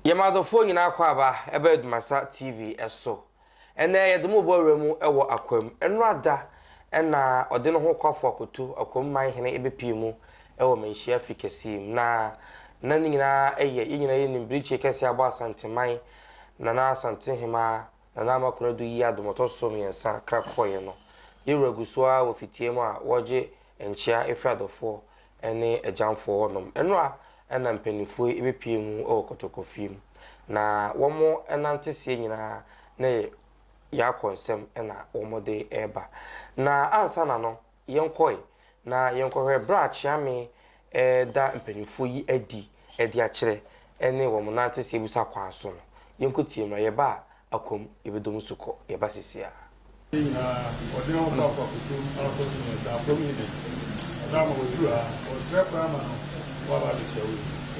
Yɛ m'adɔfoɔ nyinaa akwaaba ɛba Adumasa TV so. Ɛnnɛ yɛde mo rebɔ awura mu wɔ Akwam. Nnora da na ɔde ne ho kɔfo akoto Akwam man hene bɛpie mu wɔ manhyia fi kɛseɛ mu. Na na ne nyinaa yɛ, yɛn nyinaa yɛnim Birikyie kɛseɛ abɔ Asanteman, Nana Asantehemaa. Nana Amakora-Adu yi adom ɔtɔ so mmiɛnsa kra kɔeɛ no, yɛ werɛ gu so ara wɔ fitia mu a wɔregye nkyea firi adɔfoɔ ne agyamfoɔ hɔ nom. Nnora na mpaninfoɔ yi bɛpue mu wɔ kɔtɔkɔfie mu, na wɔn nanteseɛ nyinaa ne Yaakɔ nsam na wɔde reba. Na ansa na no, Yɛnkɔe, na yɛnkɔhwɛ bere a Kyeame reda mpanyimfo yi adi de akyerɛ ne wɔn nante sɛ abusa kwan so no. Yɛnkɔtie mmra. Yɛba a, akwam, yɛbɛdɔ mu so kɔ. Yɛba sesiaa. Bere nyinaa, ɔde ne ho ba Kwakusu ara kɔ so mmiɛnsa, akwam yi nnɛ. Ɔda ama waduru ha. Ɔsrɛ koraa ma no, woaba adekyerɛ wei.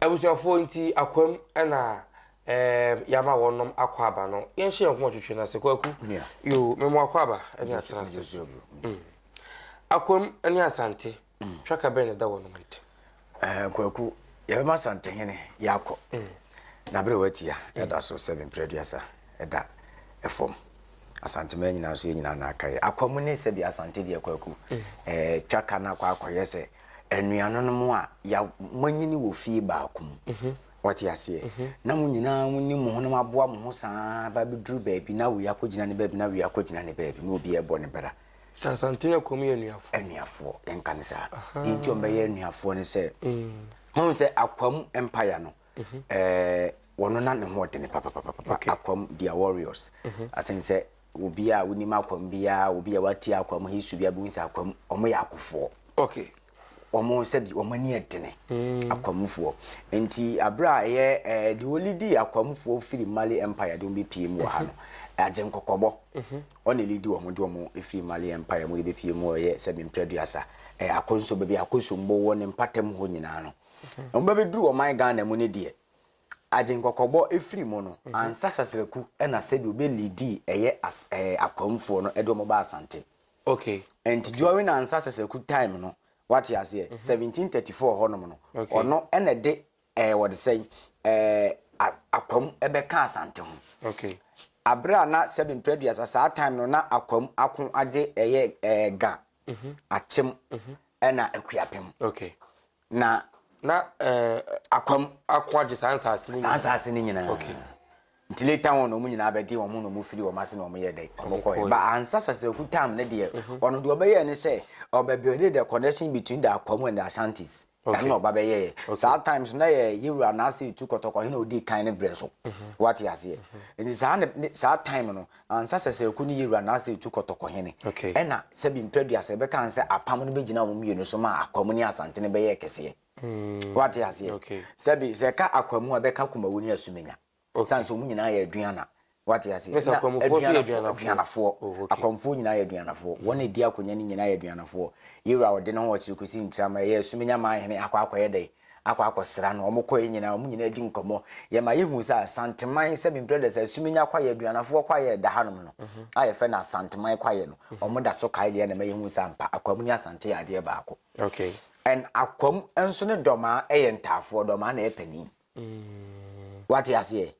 abusuafoɔ nti akwam na ɛɛm yɛama wɔnom akɔ aba no yɛnhyɛ yɛn kɔn twitwi no ase kɔ aku yoo mɛmo akɔ aba ɛne asena ase akwam ɛne asante Twaka bɛn na ɛda wɔnom ntam? Ɛɛ, Kwaku, yɛbɛma Asantehene yɛakɔ. Na bere a watia, ɛda so sɛ mpere aduasa ɛda fam. Asanteman nyinaa nso, yɛn nyinaa na aka yɛ. Akwa mu ne sɛbi Asante deɛ, Kwaku, ɛɛ Twaka no akɔ akɔyɛ sɛ anuanonom a ya manyini wɔ fie baako mu. Wɔte aseɛ. Na mo nyinaa mo ne mo ho na mo aboa mo ho saa ba bɛduru baabi na wei akɔgyina ne baabi na wei akɔgyina ne baabi na obiara bɔ ne bra. Asantene akɔ mu yɛ anuafoɔ. Anuafoɔ yɛn ka ne saa. Deɛ nti wɔn bɛyɛ anuafoɔ ne sɛ. Wɔn mm. sɛ akwa mu mpaya no. Mhm. Ɛɛ wɔn na ne ho ɔdene papapapa. Akwa mu they are warriors. Mhm. Aten sɛ obi a wonim akwa mu biara obi a wate akwa mu history biara bi sɛ akwa mu wɔn yɛ akofoɔ. Okay. wɔn sɛbi wɔn ani yɛ dene mm. akwamufoɔ nti abere a ɛyɛ ɛɛ deɛ ɔlidi akwamufoɔ firi mali empire de wɔn bɛ pie mu wɔ ha no mhm. agye nkɔkɔbɔ mhm. ɔna lidi wɔn de wɔn efiri mali empire mu de bɛ pie mu wɔ ɛyɛ sɛbi mpere duasa ɛyɛ akɔnso baabi akɔnso mbɔ wɔ ne mpatam hɔ nyinaa no mhm. wɔn bɛ bɛ duru ɔman ghana mu ne deɛ agye nkɔkɔbɔ efiri mu no ansa sasraku ɛna sɛbi ɔbɛ lidi ɛyɛ as ɛɛ akwamufoɔ no ɛde wɔn ba asante. Okay. Nti during Ansah Seserku time no, wate aseɛ, 1734 hɔ nom no, ɔno ɛna ɛde ɛɛ wɔde sɛn ɛɛ akwam ɛbɛka Asante ho. Okay. Abere a na sɛbi mprɛduasa saa time no na akwam ako agye ɛyɛ ɛɛ ga, akyem, ɛna akuapem. Okay. Na. Na ɛɛ. Akwam. Ako agye saa nsaase no nyinaa. Saa nsaase no nyinaa. Okay. Nti later on wɔn nyinaa bɛgye wɔn ho na wɔn firi wɔn ase na wɔn yɛ dɛ. Wɔn kɔɛ. Ba ansa Sasiraku tam ne deɛ. Ɔno deɛ ɔbɛyɛɛ ne sɛ ɔbɛ build the connection between the Akwam and the Ashantis. Ɛno na ɔba bɛyɛɛ. Saa time so na yɛ Yewura Nase Etu Kɔtɔkɔhene a ɔdii kan ne berɛ so. Wate aseɛ. Nti saa ne saa time no Ansa Sɛsrɛku ne Yewura Nasir tu kɔ Tɔkɔhene, ɛna sɛbi mprɛ aduasa ɛbɛka ho sɛ apam no bɛgyinaa wɔn mmienu so maa Akwamu ne Asantene bɛyɛɛ kɛseɛ. Woate aseɛ? Sɛbi, sɛ ɛka Akwamu a, ɛbɛka Kumawu ne Asumenya. Ɛsiane sɛ wɔn nyinaa yɛ Aduana. Woate aseɛ? Na Aduanafoɔ, Aduanafoɔ. Akwamufoɔ nyinaa yɛ Aduanafoɔ. Wɔn a ɛdi akonya no nyinaa yɛ Aduanafoɔ. Yewura a ɔde ne ho ɔkyere kɔsi Ntrama, ɛyɛ Asumenya maa hene akɔ akɔyɛ dɛn? akɔ akɔsra no. Wɔkɔeɛ nyinaa, wɔn nyinaa di nkɔmmɔ. Yɛma yɛhu sɛ Asanteman, sɛbi brothers, Asuminya kwaeɛ, Aduanafoɔ kwaeɛ a ɛda hanom no, a yɛfrɛ no Asanteman kwaeɛ no, wɔda so kae deɛ na ɛma yɛhu sɛ ampa, Akwam ne Asante yɛ adeɛ baako. And Akwam nso ne Dɔmaa yɛ ntaafoɔ, Dɔmaa na ɛyɛ panin. Woate aseɛ?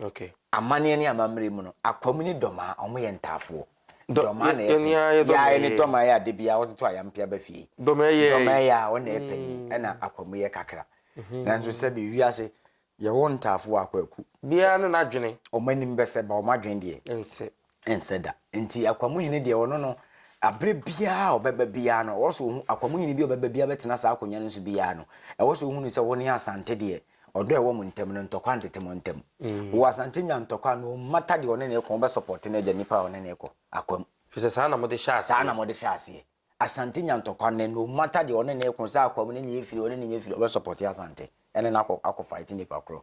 Okay. Amaneɛ ne amammerɛ mu no, Akwam ne Dɔmaa, wɔn yɛ ntaafoɔ. Dɔmaa na ɛpɛ. Yɛayɛ ne Dɔmaa yɛ ade bi a wɔde to ayampe aba fie. Dɔmaa yɛ. Dɔmaa yɛ a wɔn na ɛpɛ ni, ɛna Akwam yɛ kakra. Nanso sɛbi wiase yɛwɔ ntaafoɔ a kwaku. Biara ne n'adwene. Wɔn anim bɛsɛ ba wɔn adwene deɛ. Ɛnsɛ. Ɛnsɛ da. Nti Akwam hene deɛ ɔno no, abere biara a ɔbɛba biara no, ɔwɔ sɛ ɔhu Akwam hene bi a ɔbɛba biara bɛtena saa akonnwa no so biara no, ɛwɔ sɛ ɔhu no sɛ wɔn ne Asante deɛ. Ɔdɔ a ɛwɔ mo ntam no, ntɔkwa ntete mo ntam. Wɔ Asante nya ntɔkwa no mmata deɛ ɔne no kɔ, wobɛ support no agya nipa a ɔne no kɔ akwam. Fisɛ saa na mo de hyɛ aseɛ. Saa na mo de hyɛ aseɛ. Asante nya ntɔkwa nnɛ, no matter deɛ ɔne no kɔ, sɛ akwam ne nea firi, ɔne no nya firi, ɔbɛ support Asante ɛne no akɔ akɔ fight nipa korɔ.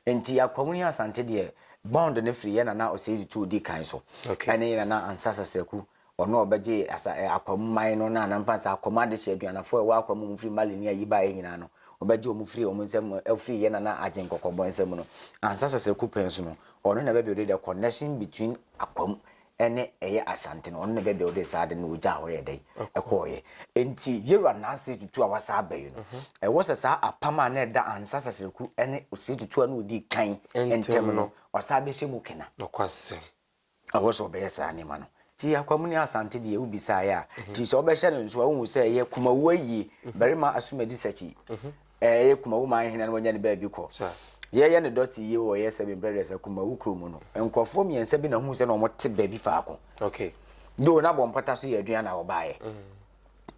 Nti akwam ne Asante deɛ bond no firi yɛ Nana Osei Tutu odi kan so ɛne yɛ Nana Ansa Sasaku Ɔno a ɔbɛgye asa ɛ, Akwa mu man no, na na mfa nsa Akwa mu adehye aduanafo a ɛwɔ Akwa mu a wɔfiri Mali ne ayi baeɛ nyinaa no, ɔbɛgye wɔn firi wɔn nsam afiri yɛn nana Agyen Kɔkɔbɔ nsam no. Ansa Sasa Kupɛn so no, ɔno na bɛbuilde the connection between Akwa mu ne ɛyɛ Asante no, ɔno na bɛbuilde saa ade no, ɔgyaa hɔ yɛ dɛn? Ɛkɔeɛ. Enti Yero Ananse Tutu a wasan aba yi no, ɛwɔ sɛ saa apam a na ɛda Ansa Sasaku ne Osei Tutu a na ɔdi kan ntam no, ɔsan bɛhyɛ mu kena. Nokwasɛm. Ɛwɔ sɛ ɔbɛyɛ saa nneɛma no. Nti Akwam ne Asante deɛ wobisaeɛ a, nti sɛ wobɛhyɛ no nso a, wohu sɛ ɛyɛ Kumawu ayie, barima Asumadi Sakyi, ɛyɛ Kumawu man hene no wanya ne baabi kɔ. Yɛyɛ no dɔte yie wɔ yɛ Seven Brothers a, Kumawu kuro mu no, nkurɔfoɔ mmiɛnsa bi na wohuu sɛ na wɔte baabi faako. Though na Bɔmpata nso yɛ Aduana a wɔbaeɛ.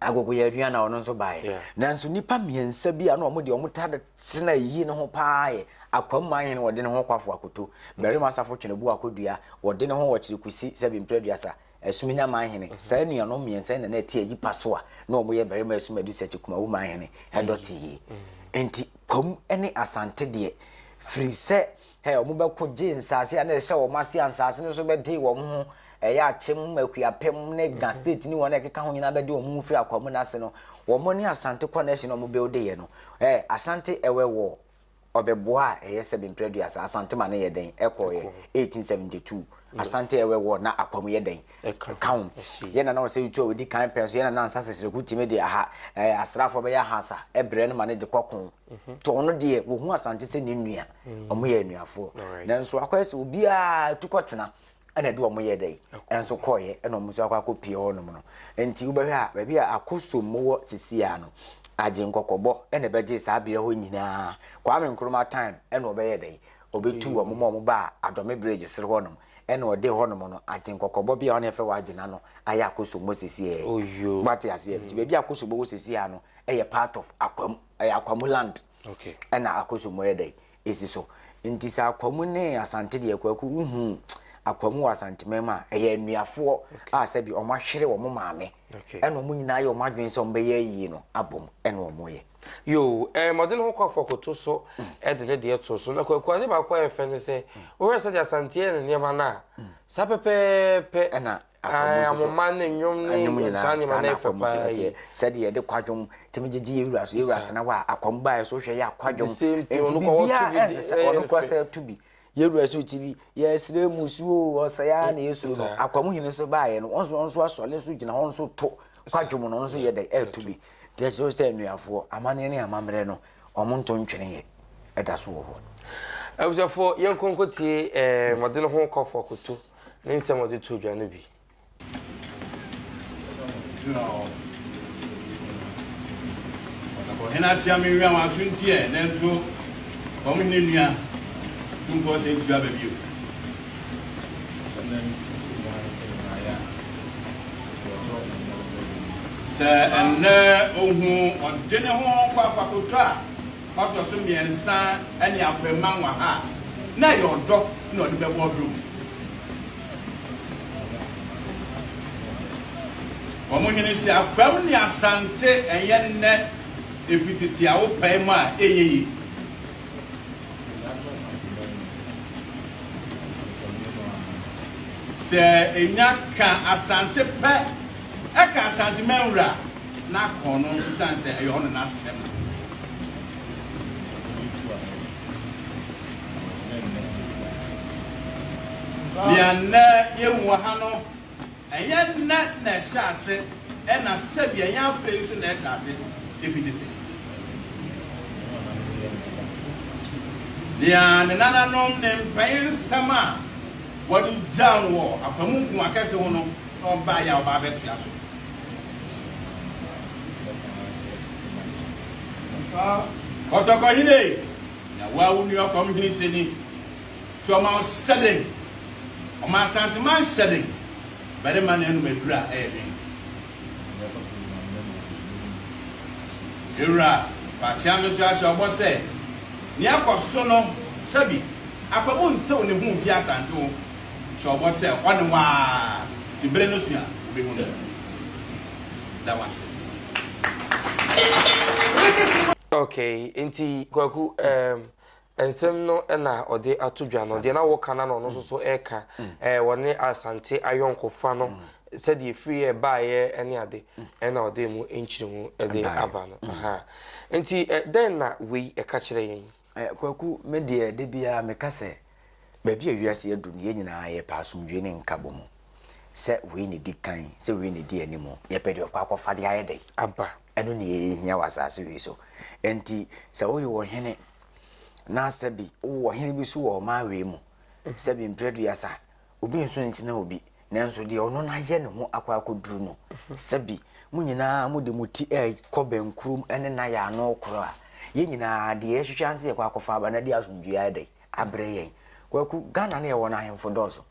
agogo yɛ aduan na ɔno nso baeɛ yeah. nanso nnipa mmiɛnsa bi a na wɔn deɛ wɔn ta tena yie no ho paa yɛ akwam maa hene wɔde ne ho kwafo akoto barima asafo twene bu akodua wɔde ne ho wɔ kyerɛ kusi sɛ bi mpere duasa asum nya maa hene mhm. saa nuanom mmiɛnsa na na ɛte ayi pa so a na wɔn yɛ barima asum adi sɛ te kumawu maa hene ɛdɔte mhm. yie mhm. nti kwam ne asante deɛ firi sɛ Hɛ, wɔbɛko gyee nsaase a na ɛhyɛ wɔn ase a nsaase no nso bɛdee wɔn ho, ɛyɛ Akyem, Akuapem ne Ga state ne wɔn a ɛkeka ho nyinaa bɛdee wɔn ho firi Akwaamu no ase no, wɔn ne Asante connection a wɔbuildeeɛ no. Hɛ, Asante ɛwɛ wɔ Ɔbɛboa a ɛyɛ sɛbe mprɛduasa, Asante ma no yɛ dɛn? Ɛkɔeɛ, 1872, Asante ɛwɛ wɔ na Akwaamu yɛ dɛn? Ɛka ho. Yɛn Nana Osei Tuah a ɔdi kan pɛɛ nso, Yɛn Nana Ansa Seseleku tumi de aha, ɛɛ, asraafoɔ bɛyɛ ahaasa brɛɛ no ma no de kɔkoo. Nti ɔno deɛ wɔhu Asante sɛ ne nua, wɔyɛ anuafoɔ. Nanso akɔyɛ sɛ obiara tu kɔtena ɛna ɛde wɔn yɛ dɛ ɛnso kɔɔyɛ ɛna wɔn nso akɔ akɔ pie hɔ nom no. Nti wobɛhwɛ a baabi a Akosom wɔ sisiaa no, agye nkɔkɔbɔ ɛna ɛbɛgye saa beaɛ hɔ nyinaa. Kwame Nkrumah time ɛna ɔbɛyɛ dɛ, ɔbɛtu wɔn ma wɔn baa Adome Bridge soro hɔ nom. Ɛna ɔde hɔnom no agyen kɔkɔbɔ bia ɔne ɛfɛ wagye na no ayɛ akosombo sesiɛɛ Oyoo wate aseɛ nti baabi akosombo wɔ sesiɛɛ no ɛyɛ part of akwamu ɛyɛ akwamu land okay ɛna akosombo yɛ dɛn esi so nti sɛ akwamu ne asante deɛ kwaku wohuu akwamu wɔ asanteman mu a ɛyɛ anuafoɔ a sɛbi ɔmo ahwere ɔmo maame ɛna wɔn nyinaa yɛ wɔn adwene sɛ wɔbɛyɛ ayie no abom ɛna wɔyɛ. Yoo, ɛɛ mmɔden ho kɔfoɔ koto so de ne deɛ too so. Na Kwaku ade baako a ɛyɛ fɛ ne sɛ, wohwɛ sɛdeɛ Asante yɛ ne nneɛma no a, saa pɛpɛɛpɛ ɛna ahoma ne nnwom ne nnwom saa nneɛma no yɛ fɛ paa yi. Sɛdeɛ yɛde kwadwom tumi gyegye yɛ wura so, yɛ wura tena hɔ a akwam baeɛ so wohwɛ yɛ akwadwom. Nti biribiara ɛnsesa, ɔno kora sɛ to bi. Yɛn wura so ti bi, yɛsrɛ mu su o, ɔsɛe ara na yɛsuro no. Akwa mu hene nso baeɛ no, wɔn nso wɔn nso asɔre nso gyina hɔ nso to kwadwom no, wɔn nso yɛ dɛ ɛreto bi. Deɛ kyerɛ sɛ nnuafoɔ, amanneɛ ne amammerɛ no, wɔn nto ntweneeɛ ɛda so wɔ hɔ. Abusuafoɔ, yɛnkɔ nkɔtie eh, Mɔde no ho kɔfoɔ Koto ne nsɛm a ɔde too dwa no bi. Ɔhene akyea me nwia wɔn aso nti ɛ na nto fam hene nua tumfoɔ sɛ ntua ba bio. Sɛ ɛnnɛ ohu ɔde ne ho kɔ akɔkotɔ a. ɔtɔ so mmiɛnsa ne Akwamma Nwaha a, na ɛyɛ ɔdɔ na ɔde bɛbɔ ɔdɔ mu. Wɔn hene se, Akwam ne Asante ɛyɛ nnɛ efi tete a wopae mu a ɛyɛ yie. Sɛ ɛnya ka Asante pɛ, ɛka Asanteman wura a. na kɔn no nso siane sɛ ɛyɛ ɔno n'asɛm no. Nea nnɛ yehu wɔ ha no, ɛnyɛ nnɛ na ɛhyɛ ase, ɛna sɛbi ɛnyɛ afei nso na ɛhyɛ ase, efi tete. Nea ne nananom ne mpɛn nsɛm a wɔde gyaw no wɔ akwamukun akɛse ho no na ɔbaeɛ a ɔba abɛtoa so. Kɔtɔkɔ hene na wo a wo nua kɔm hene sɛ ni so ɔma wo sɛden ɔma asantema nhyɛden barima na anum adura ɛyɛ den ewura fakyea me so ahyɛ ɔbɔ sɛ ne akɔ so no sɛbi akwamu ntew ne ho mfi asante ho Hyɛ ɔbɔ sɛ hɔ ne hɔ ara te bere no so a wubehu no. Da wo ase. Okay, nti Kwaku, ɛɛm, nsɛm no na ɔde ato dwa no, deɛ na wɔka no na ɔno nso so reka, ɛɛ, wɔne Asante ayɔnkofa no, sɛdeɛ ɛfiriiɛ baeɛ ne ade, ɛna ɔde mu nkyerɛmu de aba no, ahaa. Nti ɛ, dɛn na wei ɛka kyerɛ yɛn? Eh, Kwaku, me deɛ da biara meka sɛ, baabi a wiase adu no, yɛn nyinaa yɛpɛ asomdwoe ne nkabɔ mu. Sɛ wei na ɛdi kan, sɛ wei na ɛdi anim, yɛpɛ deɛ ɔkɔ akɔfa de ayɛ dɛn aba. Ɛno na yɛhia wɔ asase wei so. Enti sɛ woyɛ ɔhene, na sɛbi wowɔ ɔhene bi so wɔ ɔman wei mu, sɛbi mprɛduasa, Obi nso ntena obi, nanso deɛ ɔno no ayɛ ne ho akɔ akɔduru no, sɛ bi mo nyinaa mode mo ti rekɔ bɛnkurom ne no ayɛ ano rekoro a, yɛn nyinaa deɛ yɛhwehwɛ ara ne sɛ yɛkɔ akɔfa aba na de asomdwoeɛ ayɛ dɛn? Abrɛ yɛn. Kwaku, Ghana ne yɛwɔ no ahemfo dɔɔso.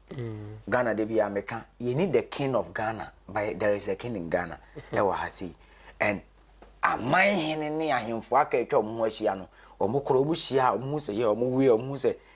Ghana da biara meka, yɛni the king of Ghana, but there is a king in Ghana ɛwɔ ha sei. And aman hene ne ahemfo aka atwa wɔn ho ahyia no, wɔn korɔ, wɔn hyia a, wɔn hu sɛ yɛ, wɔn wie a, wɔn hu sɛ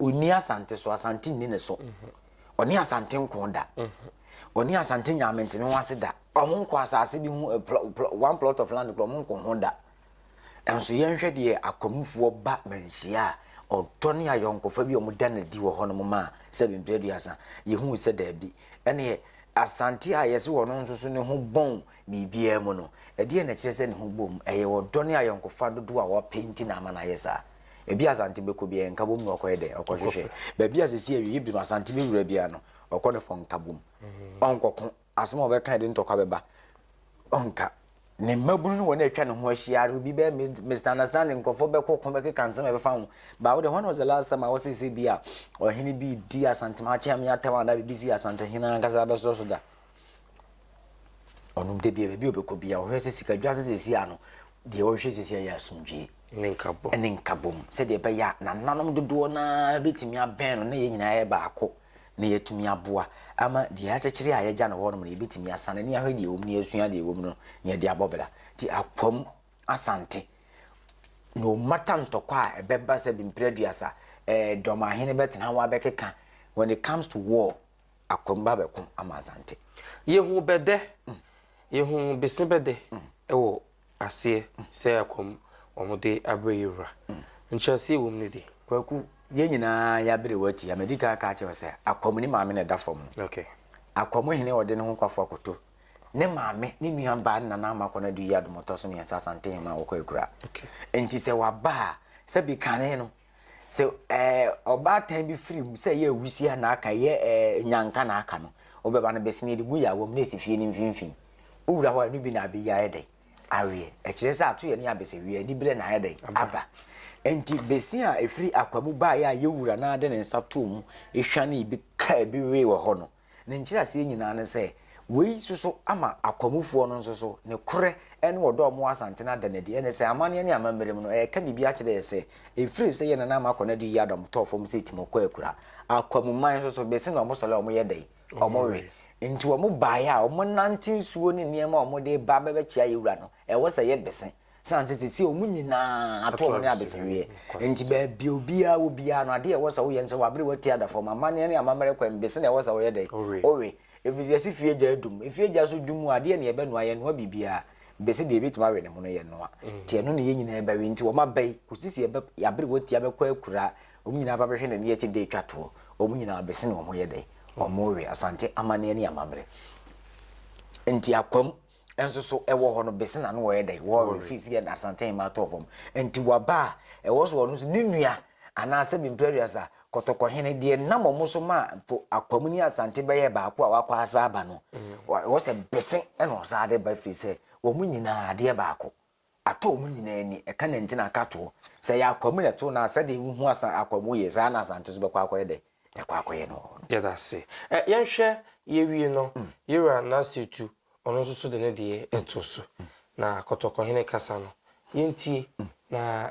Onni Asante so, Asante nni ne so. Ɔne Asante nko da. Ɔne Asante nya amentene ho ase da. Ɔmo nko asase bi ho, eh, one plot of land, ɔmo nko ho da. Nso yɛnhwɛ deɛ akwamufoɔ ba manhyia a ɔdɔ ne ayɔnkofa bi a ɔmo da no adi wɔ hɔnom ma a sɛ bempire aduasa. Yɛhu sɛ daabi. Ɛneɛ Asante a yɛse wɔn nso so ne ho bɔn biribiara mu no, ɛdeɛn na ɛkyerɛ sɛ ne ho bom? Ɛyɛ ɔdɔ ne ayɔnkofa dodoɔ a wɔpɛ nti na ama no ayɛ saa. Ebi Asante bɛkɔ biara, Nkabom na ɔkɔyɛ dɛn? Ɔkɔhwehwɛ. Baabi a seesei awiei bere no Asante bɛwura biara no, ɔkɔ no for Nkabom. Ɔnkɔko. Asɛm a ɔbɛka a ɛde ntɔkwa bɛba, ɔnka. Ne mmabunu ne wɔn a atwa ne ho ahyia ara, obi bɛyɛ mi- misunderstanding, nkurɔfoɔ bɛkɔko, bɛkeka nsɛm a ɛbɛfa ho. But wo deɛ, when was the last time a wotee sɛ bi a ɔhene bi redi Asante Maakye Ame atɛm anaa biribi sii Asantehene ankasa bɛso so da? Ɔno da bia baabi a ɔbɛkɔ bia ɔhwɛ sɛ sika dwa sɛ sɛsi a no deɛ ɔhwɛ sɛsi a yɛ asomdwie ne nkabom sɛdeɛ ɛbɛyɛ a nananom dodoɔ no ara bɛtumi abɛn no na yɛn nyinaa yɛ baako na yɛatumi aboa ama deɛ akyɛkyerɛ a yɛagya no hɔ nom no yɛbɛtumi asane ne ahwɛ deɛ ɛwɔ mu ne yɛasua deɛ ɛwɔ mu no ne yɛde abɔ bra nti akwam asante no mata ntɔkwa a ɛbɛba sɛ bemprɛ aduasa eh, dɔm ahene bɛtena ho abɛkeka when it comes to war akwamba bɛkõ ama Asante. Yehu bɛdɛ, yehu bese bɛdɛ wɔ aseɛ sɛ akɔm wɔn de abrɛ yɛ wura. Nkyerɛaseɛ wɔ mu no de. Kwaku, yɛn nyinaa yɛabere wo atia. Madi kan aka akyerɛ wo sɛ akɔm ne maame na ɛda fam no. Okay. Akɔm hene a ɔde ne ho kwafo akoto ne maame, ne nua baa ne nana ama kɔ no adu yi adom ɔtɔ so mmiɛnsa Asante Hemmaa a ɔkɔ Akura. Okay. Nti sɛ waba a, sɛbi kane no. Sɛ ɛɛ ɔbaatan bi firi mu sɛ ɛyɛ awusia na aka ɛyɛ ɛɛ nyanka na aka no, wobɛba no besene de gu yawa mu na esi fie no mfimfini. Wowura hɔ a, ɛno bi na abɛyi ayɛ dɛn? Aweɛ. Ɛkyerɛ sɛ atoyɛ ne abɛsɛwie, aniberɛ na ayɛ dɛn? Aba. Enti bese a ɛfiri akwa mu baeɛ a yɛwura no ara de ne nsa too mu hwanee bi kaa bi wee wɔ hɔ no, Ne nkyerɛaseɛ nyinaa ne sɛ wei soso ama akwamufoɔ no nso so ne korɛ ne ɔdɔ a wɔn wɔ Asante no ada no adi. Ɛne sɛ amanneɛ ne amammerɛ mu no, ɛreka biribi akyerɛ yɛ sɛ ɛfiri sɛ yɛn nana ama kɔ no adi yɛ adɔm tɔɔ fam sɛ Timɔkɔ akura. Akwamuman nso so, bese na wɔn sɔre a wɔn yɛ dɛn? Wɔn we. Nti wɔn baeɛ a, wɔn nante nsuo ne nneɛma a wɔn de ba bɛbɛkyea yɛn wura no, ɛwɔ sɛ yɛ bese. Esiane sɛ seesei wɔn nyinaa ato wɔn ne abesaweɛ nti, baabi a obiara wɔ biara no, adeɛ a ɛwɔ sɛ woyɛ ne sɛ wabere w'ati ada fam. Amanneɛ ne amammerɛ kwan bi so na ɛwɔ sɛ woyɛ dɛn? Wowe. Ɛfiri sɛ yɛse fie gya adum. Efie gya so dum a, adeɛ ne yɛbɛnoa? Yɛnnoa biribiara. Bɛse deɛ ɛbɛtumi awe ne ho no, yɛnnoa. Nti ɛno na yɛn nyinaa bɛwe. Nti wɔn aba yi, kɔsi sɛ yɛabere w'ati abɛkɔ akura, wɔn nyinaa ba bɛhwɛ n'ani akyi de twa toɔ. Wɔn nyinaa bɛse na wɔyɛ dɛn? Wɔwe. Asante amanneɛ ne amammerɛ nti akwam. nso so wɔ hɔ no bese na no wɔyɛ dɛn wɔre fi si yɛ asanten ma atɔ fam nti waba a ɛwɔ so ɔno so ne nua anaasɛ bimperias a kɔtɔkɔhene deɛ nam ɔmo so ma po akwam ne asante bɛyɛ baako a wakɔ asa aba no mm. wɔ sɛ bese ɛna ɔsaa de ba firi sɛ wɔn nyinaa adeɛ baako Atɔ wɔn nyinaa ani. Ɛka ne nti na aka toɔ. Sɛ ɛyɛ akwa mu na ɛto no a, sɛdeɛ wohu asa akwa mu yɛ, saa ara na Asante nso bɛkɔ akɔyɛ dɛn? Bɛkɔ akɔyɛ no. Yɛda ase. Ɛ, yɛnhwɛ, yɛwie no, Yera Nassetu, ɔno nso so de ne deɛ to so. Na Kɔtɔkɔhene kasa no, yɛntie, na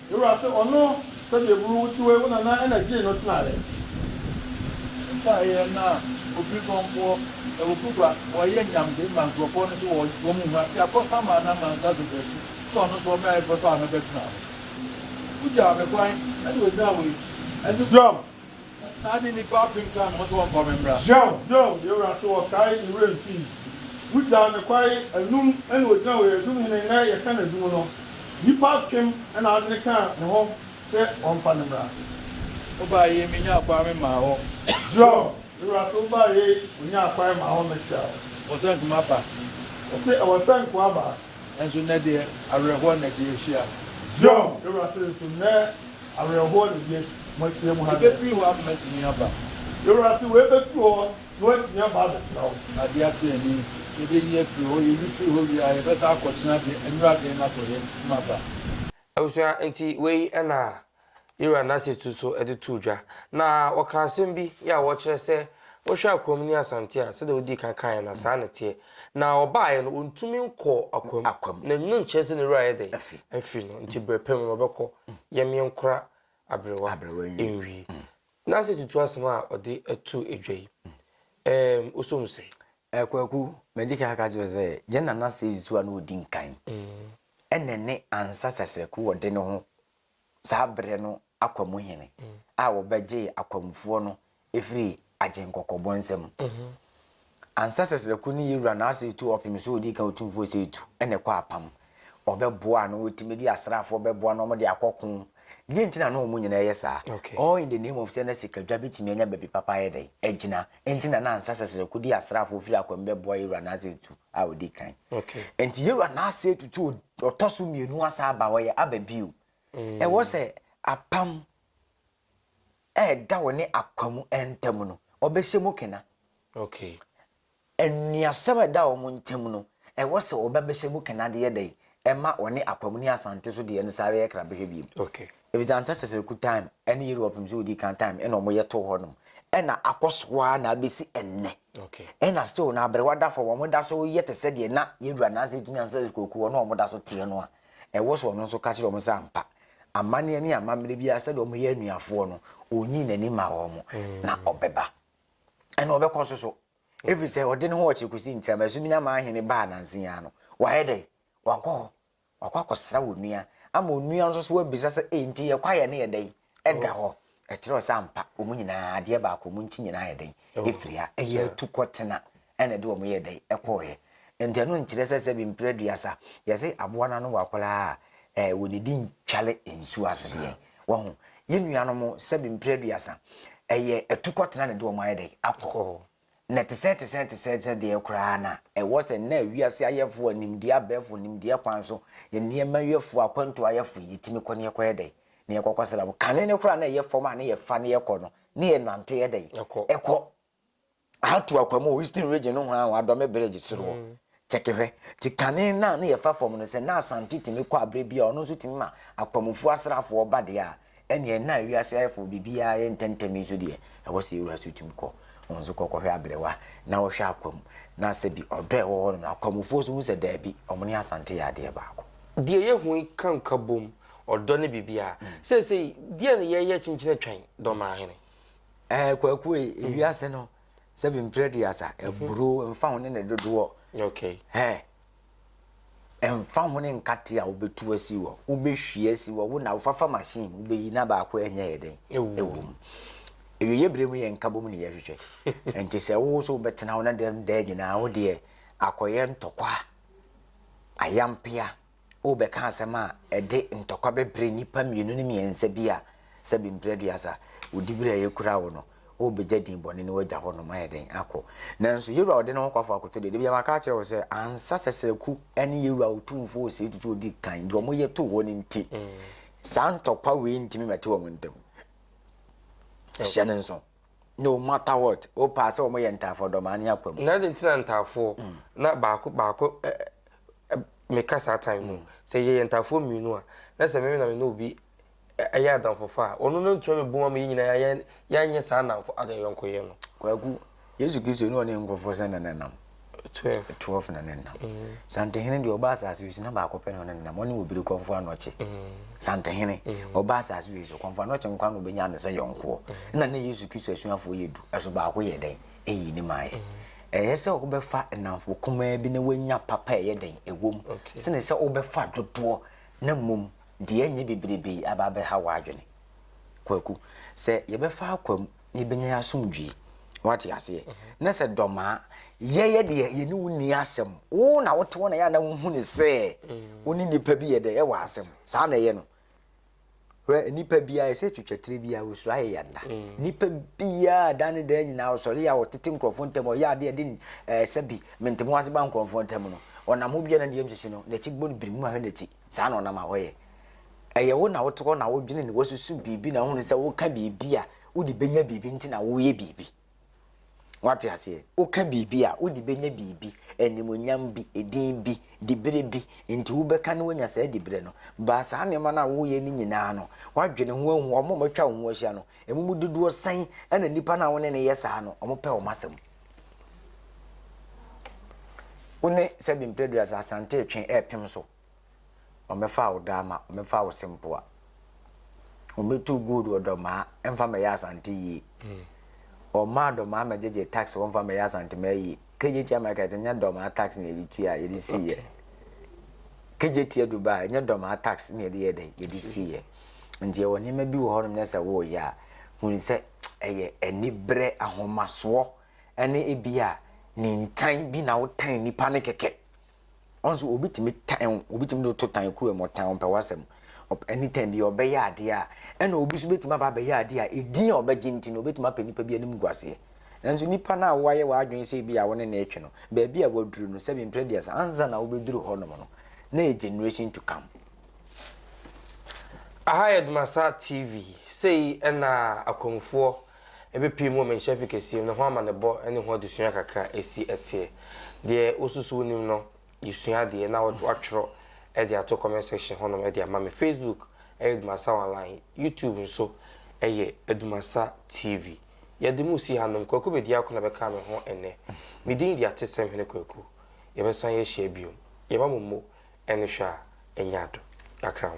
Me wura se ɔno sɛdeɛ buru wo te wei wo nana na gyee no tenaeɛ. Ɛbaeɛ na ofiri Kɔmfoɔ, Awukugba, wɔyɛ nyamde ma nkurɔfoɔ no so wɔ wɔn hwa de akɔ Samaa na Mansa sese na ɔno nso ɔmɛɛfɛ faa me bɛtenaa hɔ. Wogyaa me kwan ɛna ɔnyaa wei ɛne. Siam Ná ne nnipa apem ka ne ho sɛ wɔmfa me mmra. Zion, Zion, yɛn wura so ɔkae ne werɛ mfii. Wugyaa me kwae anum na ogyina hɔ yɛ dum hene nnɛ yɛka n'adum no. Nnipa apem na adwene kaa ne ho sɛ wɔmfa no mmra. Wobae yei menyaa kwae memaa hɔ. Zion, yɛn wura so wobae yei onyaa kwae maa hɔ mekyea wo. Wɔsɛ nkoa ba. Wɔse ɛwɔ sɛ nkoa ba. Nanso nnɛ deɛ, awerɛhoɔ na ɛde ahyia. Zion wura se, Nso nnɛ, awerɛhoɔ na ɛde moahyia mu ha nnɛ. Ɛbɛfiri hɔ ama moatumi aba. Yɛn wura se, Wei bɛfiri hɔ na woatumi aba abɛsra wo. Adeɛ ate ani, yɛbɛnyi afiri hɔ, yɛnyi firi hɔ wie a, yɛbɛsan akɔtena de nnuraden no akɔyɛ maba. Abusua, enti wei na Ira n'asetu so de too dwa, na ɔkaa asɛm bi yɛ a wɔkyerɛ sɛ wohwɛ akoam ne Asante a, sɛdeɛ wodii kan kaeɛ no a, saa na ɛteɛ. Na ɔbaeɛ no, ɔntumi nkɔɔ akoam. Akoam. Na ɛno nkyerɛ sɛ ne werɛ ayɛ dɛn? Afi. Afi no. Nti berɛ pa mu no, ɔbɛkɔ. Yɛn yɛnkora aberewa. Aberewa nwie. Nwie. N'asetutu asɛm a ɔde too dwa yi, ɛɛm, wosɔ mu sɛn? Kwaku, madi kan aka akyerɛ wo sɛ, yɛn nana Seyi Susuwa na ɔdi nkan. Ɛna ɛne Ansah Sasraku ɔde ne ho saa berɛ no akwamu hene a wɔbɛgyee akwamfoɔ no firi agyenkɔkɔbɔ nsa mu. Ansa Sasraku ne Yewura Naase retu ɔpem so ɔdi kan otumfoɔ Seetu na ɛkɔ apam. Ɔbɛboa na ɔtumi de asraafoɔ bɛboa na wɔde akɔko. Deɛ nti na na wɔn nyinaa yɛ saa? All in the name of sɛ na sikadwa bɛtumi anya baabi papa ayɛ dɛn? Agyina. Enti na na ansa Sasraku de asraafoɔ firi akwamu bɛboa Yewura Naase retu a ɔdi kan. Enti yɛwura no ase atutu ɔtɔ so mmienu asa aba hɔ yɛ aba bio. Mm. Ɛwɔ sɛ apam ɛɛda wɔ ne akwa mu ntam no ɔbɛhyɛ mu kena. Nnuasɛm a ɛda wɔn ntam no ɛwɔ sɛ ɔbɛbɛhyɛ mu kena de yɛ dɛ ɛma wɔne Akwam ne Asante so deɛ no saa bɛyɛ kra bɛhwɛ biem. Ɛfiri sɛ ansa Sɛsɛrɛku time ɛne Yerewa pem sɛ ɔdi kan time ɛna wɔyɛ too hɔ nom ɛna akɔ so ara na abɛsi ɛnnɛ. Ɛna still na aberewa da fam wɔn da so yɛ te sɛ deɛ na Yerewa nansa ɛtumi ansa Sɛsɛrɛku kuo na wɔn da so teɛ no a ɛwɔ so ɔno nso ka kyerɛ wɔn sɛ ampa amanneɛ ne amammerɛ biara sɛdeɛ wɔyɛ anuafoɔ no ɔnyi n'ani ma wɔn na ɔbɛba ɛna ɔbɛkɔ so so Ɛfiri sɛ ɔde ne ho ɔkyere kɔsi ntira mu, ɛso menya maa hene baa nansa yi ara no, wayɛ dɛn? Wakɔ hɔ, wakɔ akɔsra wo nua, ama onua nso so abisa sɛ, Ei, nti yɛn kwaeɛ no yɛ dɛn? Ɛda hɔ. Ɛkyerɛ wo sɛ ampa, wɔn nyinaa, adeɛ baako, wɔn ti nyinaa ayɛ dɛn? Ɛfiri ha. Ɛyɛ atu kɔtena, ɛna ɛde wɔn yɛɛ dɛn? Ɛkɔeɛ. Nti ɛno nkyerɛ sɛ sɛbi mprɛ aduasa, yɛse aboa no ano wɔ akwadaa a, wɔdidi ntware nsuo ase deɛ, Wahu? Yɛn nuanom, sɛbe mpire aduasa, ɛyɛ atukɔtena na ɛde wɔn ayɛ dɛ? Akɔ. Na ɛte sɛ, ɛte sɛ, ɛte sɛ, ɛte sɛ deɛ koraa na ɛwɔ sɛ nnɛ wiase ayɛfoɔ a nimdeɛ abɛɛfoɔ, nimdeɛ kwan so, nneɛma yɛfoɔ, akwantuo ayɛfoɔ, yɛtumi kɔ na yɛkɔ yɛ dɛ? Na yɛkɔ kɔsra mu. Kane no koraa na ɛyɛ fam a na yɛfa na yɛkɔ no, na yɛnante yɛ dɛ? Ɛkɔ. Ato akwa mu wɔ Eastern Region nohoaa wɔ Adome Bridge soro hɔ. Kyɛke hwɛ. Nti kane no a na yɛfa fam no, sɛ na Asante tumi kɔ a berɛ biara ɔno nso tumi ma akwamufoɔ asraafoɔ ba deɛ a, ɛnneɛ na wiase ayɛfoo biribiara yɛ ntɛmntɛm yi nso deɛ, ɛwɔ sɛ yɛwura so tumi kɔ. Wo nso kɔ kɔhwɛ Aberewa na wohwɛ Akwam na sɛbi ɔdɔ a ɛwɔ hɔnom no, akwamufoɔ nso hu sɛ daabi, wɔn ne Asante yɛ adeɛ baako. Deɛ yɛhu yi ka nkabom, ɔdɔ ne biribiara. Seesei, deɛn na yɛreyɛ kyenkyen atwan Dɔmmaahene? ɛɛ kwaku yi mhm. ewi ase no sɛ bi mpere di asa mhm. eburo nfa ho ne ne dodoɔ ɛɛ nfa ho ne nkate a wobetu asi wɔ wobehwie asi wɔ wo na wofafa machine wobeyi na baako ɛnyɛ yɛ den ewu mu ewi yɛ bere mu yɛ nka bom ne yɛ hwehwɛ nti sɛ wo so wobɛtena wo na dɛm dɛɛ nyinaa wo deɛ akɔyɛ ntɔkwa ayampea. Worebɛka asɛm a ɛde ntɔkwa bɛbrɛ nnipa mmienu ne mmiɛnsa bi a sɛ bi mprɛ aduasa, wo dibere a ɛkura wo no, worebɛgya din bɔne no woagya hɔ nom ayɛ dɛn akɔ. Nanso Yewura a ɔde ne ho kwafo akoto deɛ, da biara maka akyerɛ wo sɛ, ansa Sɛsrɛku ne Yewura Otumfoɔ Osei Tutu ɔdi kan, deɛ wɔyɛ too hɔ no nti, saa ntɔkwa wei ntumi mmɛte wɔn ntam. Hyɛ no nso. No matter what, wopɛ a sɛ wɔn yɛ ntaafoɔ dɔm a, ne akwa mu. Na adi nti na ntaafoɔ na baako baako ɛ ɛ me ka saa time no sɛ yɛ yɛ ntaafoɔ mmienu a na sɛ meme na me ne obi ɛ yɛ adamfofa a ɔno na ntumi me bom ama yɛ nyina yɛ yɛ yɛ nyɛ saa nnamfo adayɔnkoyɛ no. Kwaku, Yesu Kristo ne ɔne nkurɔfoɔ sɛ na na nam. 12 12 na ne nam mm. santehene deɛ ɔba asase wei so na baako pɛ na ɔne nam ɔne obiri kɔmfo anɔkye mm. santehene mm. ɔba asase wei so kɔmfo anɔkye nkwa na ɔbɛnya ne sɛ yɔnkoɔ na ne yesu kristo asuafoɔ yɛ du ɛso baako yɛ dɛn ɛyi ne maayɛ ɛyɛ sɛ wobɛfa nnamfo kumaa bi na wanya papa ɛyɛ dɛn ɛwom sene sɛ wobɛfa dodoɔ na mmom deɛ ɛnyɛ bebrebe aba abɛha w'adwene kwaku sɛ yɛbɛfa akwam na yɛbɛnya asomdwie. Wate aseɛ? Na sɛ dɔm a, yɛyɛ deɛ yɛne wo nni asɛm. Wo na wote hɔ na yɛ a na wohu ne sɛ wo ne nnipa bi yɛ dɛ ɛwɔ asɛm. Saa na ɛyɛ no. Hwɛ nnipa biara ɛsɛ twitwa tire biara wosuro ayɛ yɛ nna. Nnipa biara da ne da nyinaa ɔsɔre a ɔtete nkurɔfoɔ ntam ɔyɛ adeɛ ɛde ɛsɛ bi mentem ase ba nkurɔfoɔ ntam no ɔnam hɔ biara na ne yam sisi no n'akyi bɔ no birim na wahwɛ n'akyi. Saa na ɔnam a ɔyɛ. Ɛyɛ wo na wote hɔ na wodwene na woasusu biribi na wohunu sɛ woka biribi a wode bɛnya biribi nti na woreyɛ biribi. Woate aseɛ? Woka biribi a wode bɛnya biribi, animuonyam bi, edin bi, diberɛ bi, nti wobɛka na woanya saa diberɛ no. Baa saa nneɛma no a woreyɛ no nyinaa no, woadwene ho ahu wɔn a wɔatwa wo ho ahyia no, emu mu dodoɔ sɛn na nnipa no a wo ne no yɛ saa no, wɔpɛ wɔn asɛm? Wo ne Sɛbi Mprɛduasa Asante retwe repem so Ɔmmɛfaa wo daama, ɔmmɛfaa wo sempoa. Ɔmmɛtuu gold wɔ dɔmaa, ɛmfa mmɛyɛ Asante yie. Ɔmmaa dɔmaa mmɛgyegye tax hɔ mfa mmɛyɛ Asantemaa yie. KJT America yɛte nyɛ dɔmaa tax na yɛde tuiɛ a yɛde siiɛ. KJT Dubai nyɛ dɔmaa tax na yɛde yɛ dɛ yɛde siiɛ. Nti yɛwɔ nneɛma bi wɔ hɔnom na sɛ woyɛ a hunu sɛ ɛyɛ aniberɛ, ahomasoɔ ɛne ebia nintan bi na wotan nipa no kɛkɛ. Ɔn so obi tumi tan wo, obi tumi de wo to tan kuruwa mu, ɔtan ɔmpɛ w'asɛm. Ɔp anytime bi ɔbɛyɛ adeɛ a, ɛna obi so bɛtumi aba abɛyɛ adeɛ a edin a ɔbɛgye nti no obɛtumi apɛ nipa bi animguaseɛ. Nanso nipa no a woayɛ w'adwene sɛ ebia wo ne no retwe no, baabi a waduru no, sɛbi mprɛ aduasa ansa na wobɛduru hɔ nom no, na ɛyɛ generation to come. Aha yɛ Dumasaa TV, sei na akwanmufoɔ Ebepii mu menkyerɛ fi kɛseɛ mu na ho amanebɔ ne ho adesua kakra si teɛ. Deɛ wosusu wonim no yɛsua adeɛ na watwerɛ de ato comment section hɔnom de ama me. Facebook yɛ Dumasa Online, YouTube nso yɛ Dumasa TV. Yɛde mo si hanom, Kwaku Bediako na bɛkaa me ho nnɛ. Me din de Atesɛm Hene Kwaku. Yɛbɛsan yɛahyia biom. Yɛma mo mo Ɛne hwɛ a ɛnyɛ ado kakra ho.